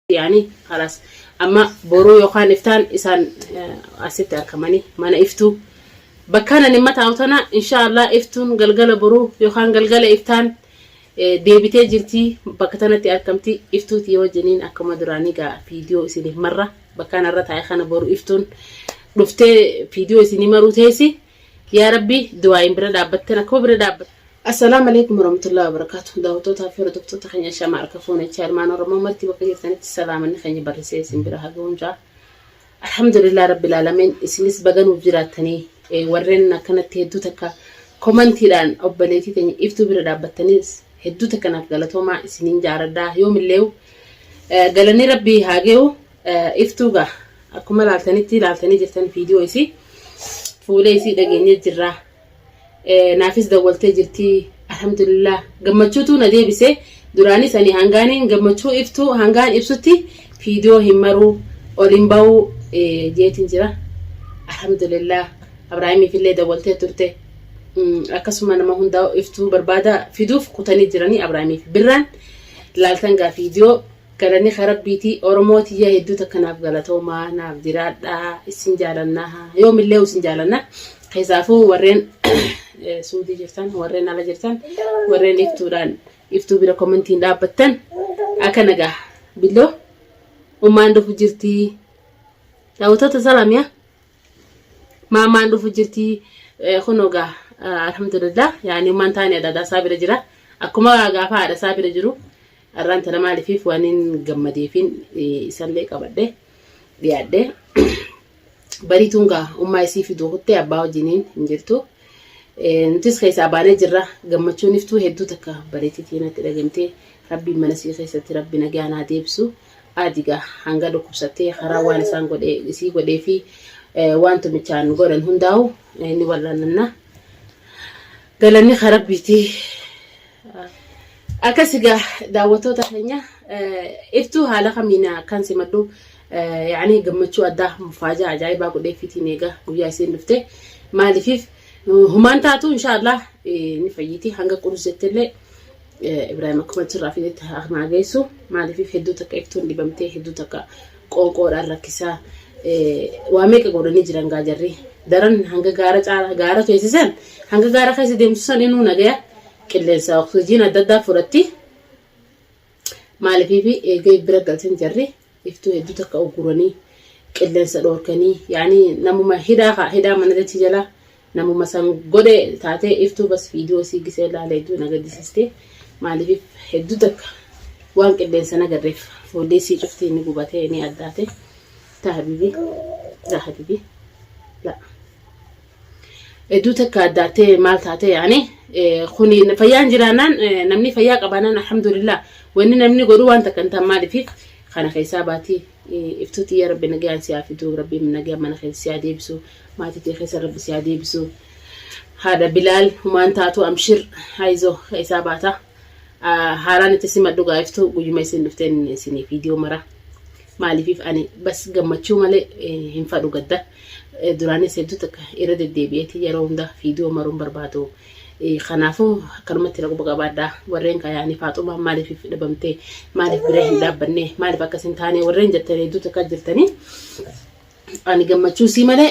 yaani khalas amma boruu yookaan iftaan isaan asitti arkamanii mana iftuu bakkaan ani amma taa'u tana insha Allah iftuun galgala boruu yookaan galgala iftaan deebitee jirtii bakka tanatti arkamti iftuutii wajjiniin akkuma duraanii gaa viidiyoo isiniif marra bakkaan irra taa'e kana boruu iftuun dhuftee viidiyoo isinii maruu teessi Yaa Rabbi du'aa'iin bira dhaabbatte rakkoo bira dhaabbatte. Assalaamu alaikum warahmatullahi wabarakatuh daawwattootaa fi hordoftoota keenya shama harka fuunachaa ilmaan oromoo marti bakka jirtanitti salaamanni keenya barrisee isin bira haa ga'uun jaa alhamdulillah rabbil aalamiin isinis baga nuuf jiraattanii eh, warreen akkanatti hedduu takka komantiidhaan obboleetii teenya iftuu bira dhaabbattanis hedduu takka naaf galatoomaa isiniin jaaradhaa yoomilleeyu eh, galanii rabbii haa ga'u Iftuu gaa akkuma laaltanitti laaltanii jirtan viidiyoo isii fuula isii dhageenyee jirra. Naafis dawwaltee jirti alhamdulillah gammachuutu na deebise duraanii sanii hangaaniin gammachuu iftuu hangaan ibsutti viidiyoo hin maruu ol hin ba'uu jeetiin jira. Alhamdulillah Abiraahimiif illee dawwaltee turte. Akkasuma nama hundaa iftuu barbaada fiduuf kutanii jiranii Abiraahimiif birraan laaltan gaa viidiyoo. Galanii ka rabbiitii oromoo tiyya hedduu takka naaf galatoomaa naaf jiraadhaa issin jaalannaa yoomillee isin jaalanna keessaafuu warreen suudii jirtan warreen ala jirtan warreen iftuudhaan iftuu bira komentiin dhaabbattan akka nagaa billoo ummaan dhufu jirtii daawwattoota salaamiya maamaan dhufu jirtii kunoo gaa alhamdulillah yaani ummaan taane adaadaa isaa bira jira akkuma gaafa haadha isaa bira jiru Arraan tana maalifiif waanin gammadeefiin isanlee qabadhe dhiyaadhe. Bariituun gaa ummaa isii fiduu kuttee abbaa wajjiniin hin jirtu. Nutis keessaa baanee jirra. Gammachuun iftuu hedduu takka bareetitii natti dhagamtee rabbiin mana sii keessatti rabbi nagaan haa deebisu. Aadi gaa hanga dhukkubsattee karaa waan isaan godhee isii godhee fi waan tumichaan godhan hundaa'u ni wal'aananna. Galanni kan rabbiitii. Akkas egaa daawwattoota keenya iftuu haala kamiin kan simadhu yaani gammachuu addaa mufaajaa ajaa'ibaa godheefiitiin eegaa guyyaa isiin dhufte maaliif humaan taatu inshaallah ni fayyiti hanga qurus jettellee Ibraahim akkuma jirraa fidetti haa geessu maaliif hedduu takka iftuun dhibamtee hedduu takka qoonqoodhaan rakkisaa waa meeqa godhanii jiran gaa jarri daran hanga gaara caala gaara teessisan hanga gaara keessa deemtu san inuu nagaya qilleensa oksijiin adda addaa fudhatti maaliif fi eegee bira galchan jarri iftuu hedduu takka ugguranii qilleensa dhoorkanii yaani namuma hidhaa kaa hidhaa mana jechi jala Namuma san godhe taatee iftuu bas viidiyoo isii gisee ilaale hedduu na gaddisiiste maaliif hedduu takka waan qilleensa na garreef fuulli isii cufti inni gubatee inni addaate taa habiibii laa habiibii laa hedduu takka addaattee maal taatee yaani kuni fayyaan jiraanaan namni fayyaa qabaanaan alhamdulillah wanni namni godhu waan takka hin ta'an maaliif kana keessaa baatii Iftuu tiyya rabbi nagayaan si haa fiduu rabbi nagayaan mana keessa si haa deebisu maatii tee keessa rabbi si haa deebisu haadha bilaal humaan taatu amshir haizo ka isaa baata haaraan itti simadhu gaa iftuu guyyuma isin dhufteen isin viidiyoo mara maaliifif ani bas gammachuu malee hin fadhu gadda duraanis hedduu takka irra deddeebi'eeti yeroo hunda viidiyoo maruun barbaadu Kanaafuu akkanumatti na quba qabaadhaa warreen kayaanii faaxumaan maaliif dhabamtee maaliif bira hin dhaabbanne maaliif akkas hin taane warreen jettanii hedduu takka jirtanii ani gammachuu isii malee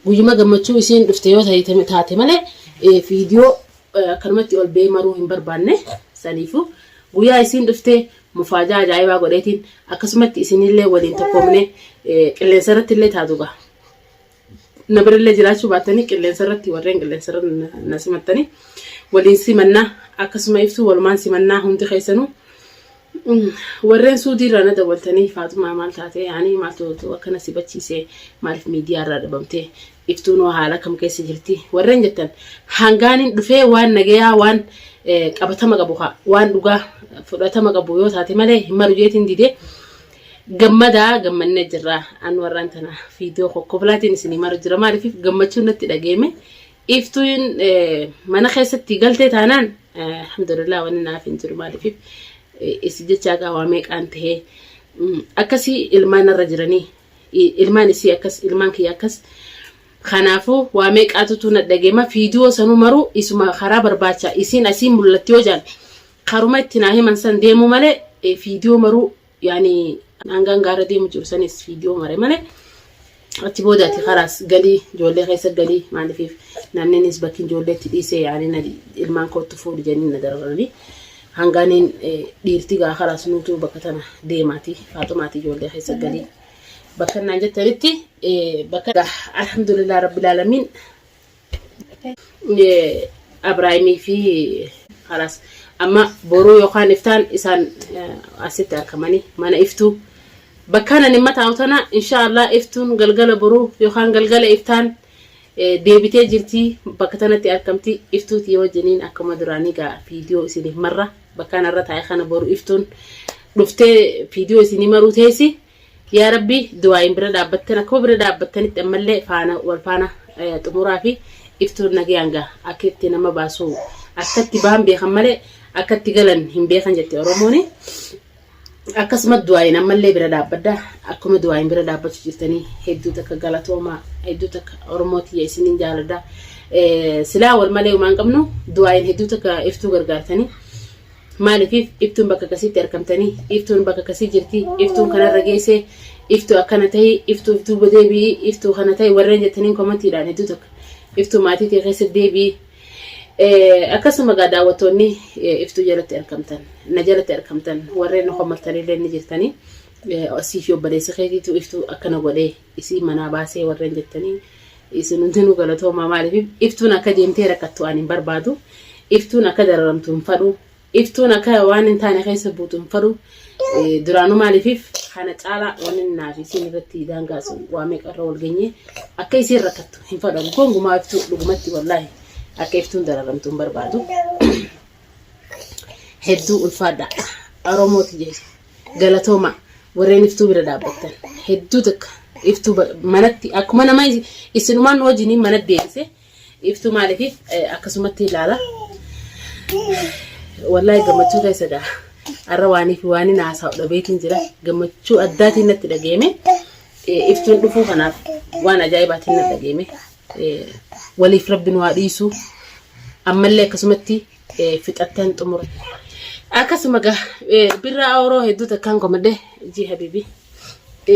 guyyuma gammachuu isiin dhufte yoo ta'e- taate malee eh, viidiyoo eh, akkanumatti ol ba'ee maruu hin barbaanne saniifuu guyyaa isiin dhufte mufaajaa ajaa'ibaa godheetiin akkasumatti isinillee waliin tokkoomne eh, qilleensa irratti illee taatu ga'a. Na birallee jiraachuu baattanii qilleensarratti warreen qilleensarra na simattanii waliin simannaa akkasuma ibsuu walumaan simannaa hundi keessanuu warreen suudiirraa na dawwaltanii faaxumaa maal taatee ani maaltu akka na sibachiisee maaliif miidiyaarraa dhabamtee iftuunoo haala kam keessa jirti warreen jettan hangaaniin dhufee waan nagayaa waan qabatama qabu waan dhugaa fudhatama qabu yoo taate malee hin maru jeetiin didee Gammadaa gammanne jirra an warraan tana viidiyoo kokkoflaatiin isinii maru jira maaliif gammachuun natti dhageeme iftuun mana keessatti galtee taanaan alhamdulillah wanni naaf hin jiru maaliif isi jechaa gaawaa meeqaan tahee akkasii ilmaan irra jiranii ilmaan isii akkas ilmaan kiyya akkas kanaafuu waa meeqaatutu na dhageema viidiyoo sanuu maruu isuma karaa barbaacha isiin asiin mul'atti yoo jaan Karuma itti naa himan san deemu malee eh, fiidiyoo maruu yaani hangaan gaara deemu jiru sanis fiidiyoo mare malee achi boodaati karaas galii ijoollee keessa galii maaliif namninis bakki ijoollee itti dhiisee yaani na ilmaan kootti fuudhi jedhanii na darbaranii hangaaniin eh, dhiirti gaa karaas nuutuu bakka tana deemaati faaxumaati ijoollee keessa galii bakka naan jettanitti eh, bakka alhamdulillah rabbil alamin Abraahimii fi Haraas. Amma boruu yookaan iftaan isaan asitti argamanii mana iftuu. Bakkaan ani amma taa'u tana inshaallah iftuun galgala boruu yookaan galgala iftaan deebitee jirtii bakka tanatti argamti iftuutii wajjiniin akkuma duraanii gaa viidiyoo isiniif marra bakkaan irra taa'e kana boru iftuun dhuftee viidiyoo isinii maruu teessi. Yaa Rabbi du'aa'iin bira dhaabbattan akkuma bira dhaabbattanitti ammallee faana wal faana xumuraa fi iftuun nagayaan gaa akka itti nama baasu akka itti bahan beekan malee akka itti galan hin beekan jette Oromooni. Akkasuma du'aa'iin ammallee bira dhaabbadda akkuma du'aa'iin bira dhaabbachuu jirtanii hedduu takka galatoomaa hedduu takka Oromoo tiyya isiniin jaaladha. Silaa wal malee waan qabnu du'aa'iin hedduu takka iftuu gargaartanii. Maalifiif iftuun bakka akkasiitti arkamtanii? Iftuun bakka akkasii jirti, iftuun kanarra geesse, iftuu akkana tahi, iftuuf duuba deebi'i, iftuu kana tahi warreen jettaniin komatiidhaan hedduu takka iftuu maatii tee keessa deebi'i. Akkasuma gaa daawwattoonni iftuu jalatti arkamtan, na jalatti arkamtan warreen na komartanillee ni jirtanii. Sii fi obboleessa keetiitu iftuu akkana godhe. isii manaa baasee warreen jettanii isin hundinuu galatoomaa maaliif iftuun akka deemtee rakkattu ani hin barbaadu iftuun akka dararamtu hin fadhu iftuun akka waan hin taane keessa buutu hin fadhu duraanu maaliif kana caalaa waan inni naaf isiin irratti daangaa sun waa meeqa irra wal geenye akka isiin rakkattu hin fadhamu gongumaa iftuu dhugumatti wallaahi akka iftuun dararamtu hin barbaadu. hedduu ulfaadha oromoo tiyya galatooma warreen iftuu bira dhaabbattan hedduu takka iftuu ba- manatti akkuma nama is- isinumaan nu wajjin mana deebise iftuu maaliif akkasumatti ilaala wallahi gammachuu keessa gaa arra waanii fi waanii naasaa dhabeetiin jira gammachuu addaatiin natti dhageeme iftuun dhufuu kanaaf waan ajaa'ibaatiin natti dhageeme Waliif rabbi nu haa dhiisu. Ammallee akkasumatti fixattan xumura. Akkasuma gaa birraa awuroo hedduu takkaan komadde jii habibi.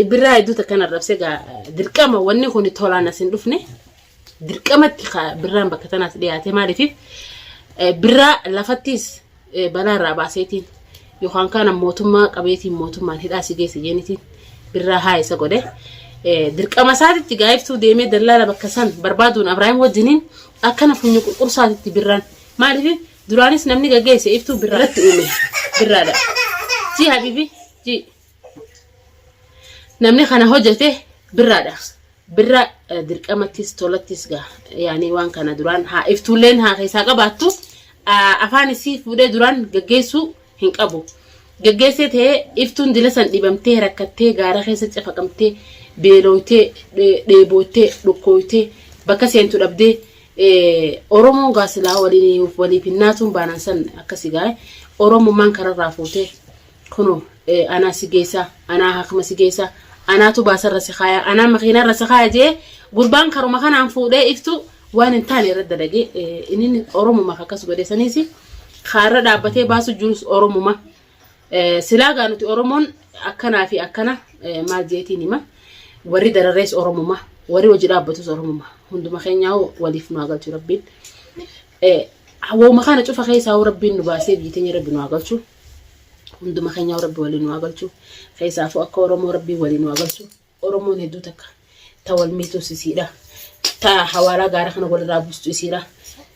Birraa hedduu takkaan arrabse gaa dirqama wanni kun tolaan as hin dhufne. Dirqamatti birraan bakka tanaas dhiyaate maaliif birraa lafattis balaa irraa baaseetiin yookaan kaan mootummaa qabeetiin mootummaan hidhaa si geesse jeenitiin birraa haa isa godhe. Dirqama isaatitti gaa'ibtuu deemee dallaala bakka san barbaaduun Abiraahim wajjiniin akkana funyu qurqursaatitti birraan maaliif duraanis namni gaggeesse iftuu birraa irratti uume birraadha. Jii habibi jii. namni kana hojjete birraadha birra eh, dirqamattis tolattis gaa yaani waan kana duraan haa iftuulleen haa keessaa qabaattu ah, afaan isii fuudhee duraan gaggeessuu hin qabu gaggeessee ta'ee iftuun dila san dhibamtee rakkattee gaara keessa cafaqamtee beelooytee dhe- dheebooytee dhukkooytee bakka seentu dhabdee eh, oromoon gaa silaa waliin waliif hin naatuun baanan san akkasi gaa oromummaan kararraa fuutee Kunoo anaa si geessaa, anaa haakima si geessaa, anaatu baasa irra si kaaya, anaa makiinaa irra si kaaya jedhee gurbaan karuma kanaan fuudhee iftuu waan hin taane irra dalagee inni Oromumaaf akkas godhe saniis kaarra dhaabbatee baasu jirus Oromuma. Silaa gaa nuti Oromoon akkanaa fi akkana maal jeetiin hima warri dararees Oromuma warri hojii dhaabbatus Oromuma hunduma keenyaa waliif nu haa galchu rabbiin. Ee woma kana cufa keessaahuu rabbiin nu baasee biyyi teenya rabbi nu haa galchu hunduma keenyaa rabbi waliin nu haa galchu keessaafuu akka oromoo rabbiin waliin nu haa galchu oromoon hedduu takka ta wal miituus isiidha ta hawaalaa gaara kana walirraa buustu isiidha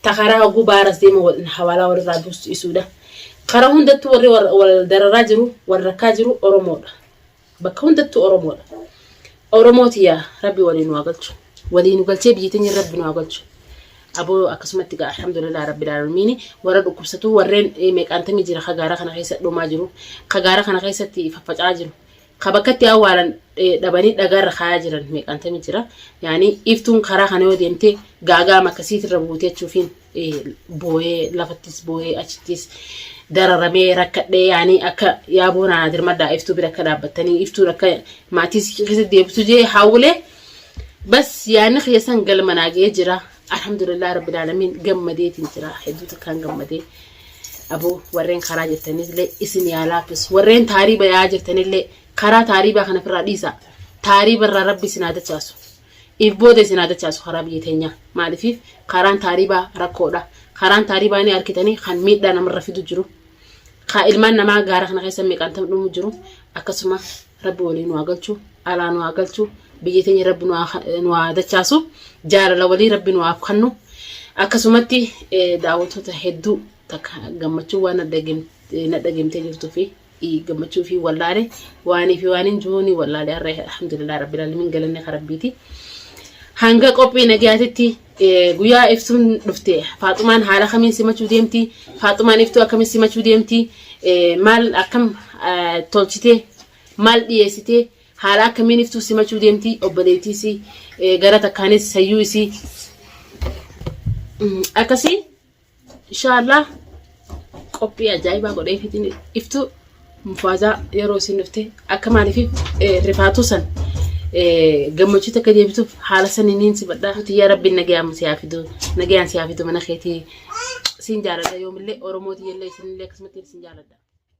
ta karaa hoguu baaras deema wal- hawaalaa walirraa buustu isuudha karaa hundattuu warri wal wal dararaa jiru wal rakkaa jiru oromoodha Bakka hundattuu Oromoodha. Oromoo tiyyaa rabbi walii nu haa galchu. Walii nu galchee biyyi teenya rabbi nu haa galchu. Aboo akkasumatti gaa alhamdulillah rabbi laalamiini warra dhukkubsatuu warreen eh, meeqaantamii jira ka gaara kana keessa dhumaa jiru ka gaara kana keessatti faffaca'aa jiru ka bakkatti awwaalan eh, dhabanii dhagaarra kaayaa jiran meeqaantamii jira yaani iftuun karaa kana yoo deemte gaagaama akkasiitirra buute jechuufiin booyee lafattis booyee achittis dararamee rakkadhee yaanii akka yaa boonaa naa dirmadhaa iftuu bira akka dhaabbattanii iftuun akka maatii si keessa deebisu jee hawwulee bas yaanni keessan galma naa ga'ee jira alhamdulillah rabbil alamin gammadeetiin jira hedduu takkaan gammadee aboo warreen karaa jirtanillee isin yaa laaffisu warreen taariiba yaa jirtanillee karaa taariibaa kana firraa dhiisaa taariiba irraa rabbi isin haa dachaasu iif booda isin haa dachaasu karaa biyya teenyaa maalifiif karaan taaribaa rakkoodha karaan taaribaa ni arkitanii kan miidhaa namarra fidu jiru kaa ilmaan namaa gaara kana keessa meeqaan tam dhumu jiru akkasuma rabbi walii nu haa galchu alaa nu haa galchu biyya teenya rabbi nu haa dachaasu jaalala walii rabbi nu haa kannu akkasumatti daawwattoota hedduu takka gammachuu waan na dhageemtee jirtu fi gammachuu fi wallaale waanii fi waaniin jiruu ni wallaale har'a alhamdulillah rabbil alamin galanni ka rabbiiti hanga qophii nagaatitti guyyaa iftuun dhufte faaxumaan haala kamiin simachuu deemti faaxumaan iftuu akkamiin simachuu deemti maal akkam tolchite maal dhiyeessite haala akkamiin iftuu simachuu deemti obboleettiis gara takkaanis sayyuu isii akkasii Inshaallah qophii ajaa'ibaa godhee fitiin iftu mufaazaa yeroo isin dhufte akka maaliif rifaatuu san gammachuutti akka deebituuf haala saniniin si badhaa tiyyaa rabbiin nagayaan si haa fidu nagayaan si haa fidu mana keetii siin jaaladha yoomillee oromoo tiyyallee isinillee akkasumatti siin jaaladha.